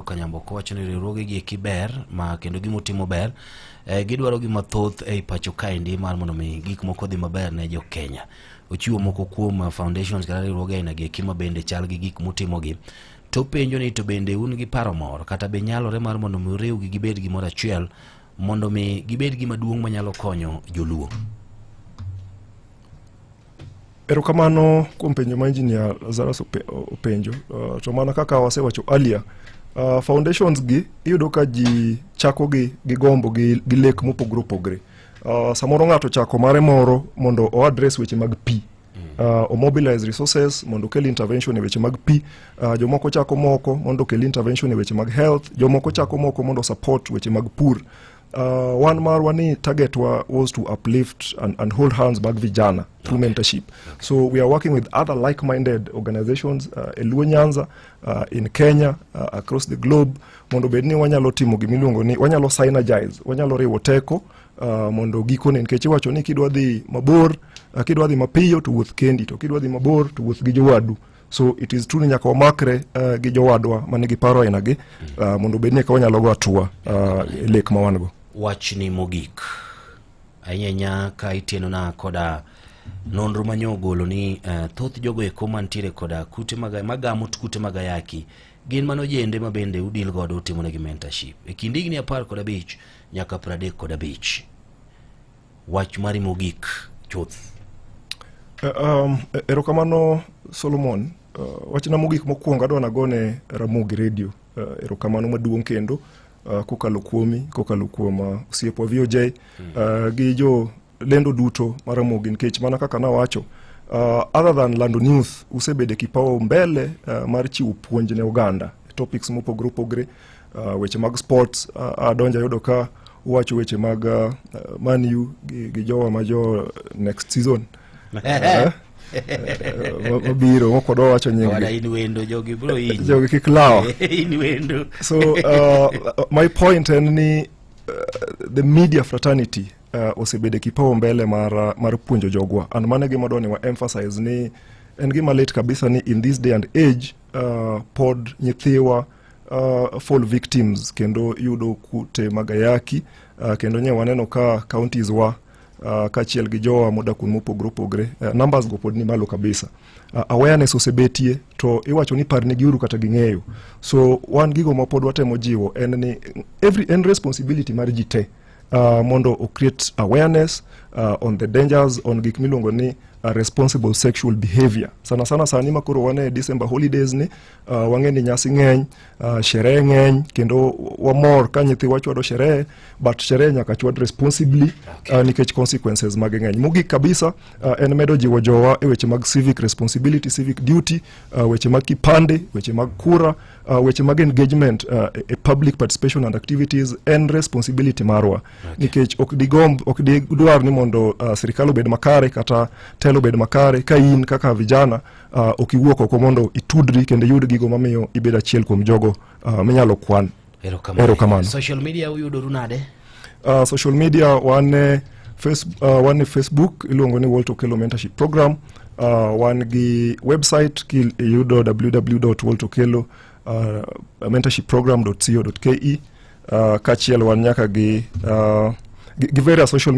Kanyamboka wacho ni riwruoge gi eki ber ma kendo gima utimo ber e, gidwaro gima thoth ei pacho kaendi mar mondo mi gik moko dhi maber ne jo Kenya. Ochiwo moko kuom uh, foundations kata riwruoge aina gi eki ma bende chal gi gik mutimo gi. To penjo ni to bende un gi paro moro kata be nyalore mar mondo mi uriwgi gibed gimoro achiel mondo mi gibed gima duong' manyalo konyo joluo. Erokamano kuom penjo ma engineer Lazarus openjo. Uh, to mana kaka wasewacho earlier, uh, foundations gi iyudo ka ji chako gi, gi gombo gi, gi lek mopogre opogre. Uh, samoro ng'ato chako mare moro mondo o address weche mag pi uh, omobilize resources mondo okel intervention e weche mag pi uh, jomoko chako moko mondo okel intervention e weche mag health jomoko chako moko mondo support weche mag pur Uh, one mar wani target wa was to uplift and, and hold hands back vijana through okay. mentorship okay. so we are working with other like-minded organizations uh, eluo nyanza uh, in kenya uh, across the globe mondo bed ni wanyalo timo gimiluongo ni wanyalo synergize wanyalo riwo teko uh, mondo gikone nikech iwacho ni kidwa dhi mabor uh, kidwa dhi mapiyo to wuoth kendi to kidwa dhi mabor to wuoth gi jowadu so it is true ni nyaka wamakre uh, gi jowadwa ma nigi paro ainagi uh, eh, mondo obed ni eka wanyalo go atua uh, eh, lek ma wan go wachni mogik ahinyanya ka itienona koda nonro ma nyo ogolo ni uh, thoth jogo eko mantiere koda kute maga, magamo kute mag ayaki gin mano jende ma bende udil godo utimonegi mentorship e kind higni apar kod abich nyaka pradek kod abich Wach mari mogik chuth. Eh, um, eh, erokamano Solomon. Uh, wachna mogik mokwongo adwa nagone Ramogi Radio uh, erokamano maduong' kendo uh, kokalo kuomi kokalo kuom uh, osiepwa VOJ uh, hmm. gi jo lendo duto ma Ramogi nikech mana kaka nawacho uh, other than lando news usebede kipao mbele uh, mar chiwo puonj ne oganda topics mopogre opogre Uh, weche mag sports uh, adonja yudo ka uwacho weche mag uh, manu gi, gi jowa ma jo next season Eh, mabiro mokwa dwa wacho nyinggi Wala in wendo jogi bro in. jogi kik lawa in wendo. so uh, my point en ni uh, the media fraternity uh, osebedo e kipao mbele mar, uh, mar puonjo jogwa and mano e gima dwani wa emphasize ni en gima lit kabisa ni in this day and age uh, pod nyithiwa uh, fall victims kendo yudo kute mag ayaki uh, kendo nye waneno ka counties wa uh, kachiel gi jowa modak kuonde mopogore opogore uh, numbers go pod ni malo kabisa uh, awareness osebetie to iwacho ni par nigi uru kata ging'eyo so wan gigo ma pod watemo jiwo en ni every en responsibility mar ji te uh, mondo o create awareness uh, on the dangers on gik miluongo ni uh, responsible sexual behavior sana sana sani makoro wane December holidays ni Uh, wang'e ni nyasi ng'eny uh, sherehe ng'eny kendo wamor ka nyithiwa chwado sherehe but sherehe nyaka chwad responsibly okay. uh, nikech consequences mag ng'eny mogik kabisa uh, en medo jiwo jowa e weche mag civic responsibility civic duty uh, weche mag kipande weche mag kura uh, weche mag engagement uh, e, e public participation and activities en responsibility marwa okay. nikech ok digomb ok digdwar ni mondo uh, sirikal obed makare kata telo obed makare ka in kaka vijana uh, ok iwuok oko mondo itudri kendo iyud gigo mamiyo ibedo achiel kuom jogo uh, minyalo kwan erokamano social media uyudoru nade uh, social media wan e face, uh, wan e facebook iluongo ni walter okelo mentorship program uh, wan gi website kiyudo www walter okelo uh, mentorship program co ke uh, kachiel wan nyaka gi uh, gi various social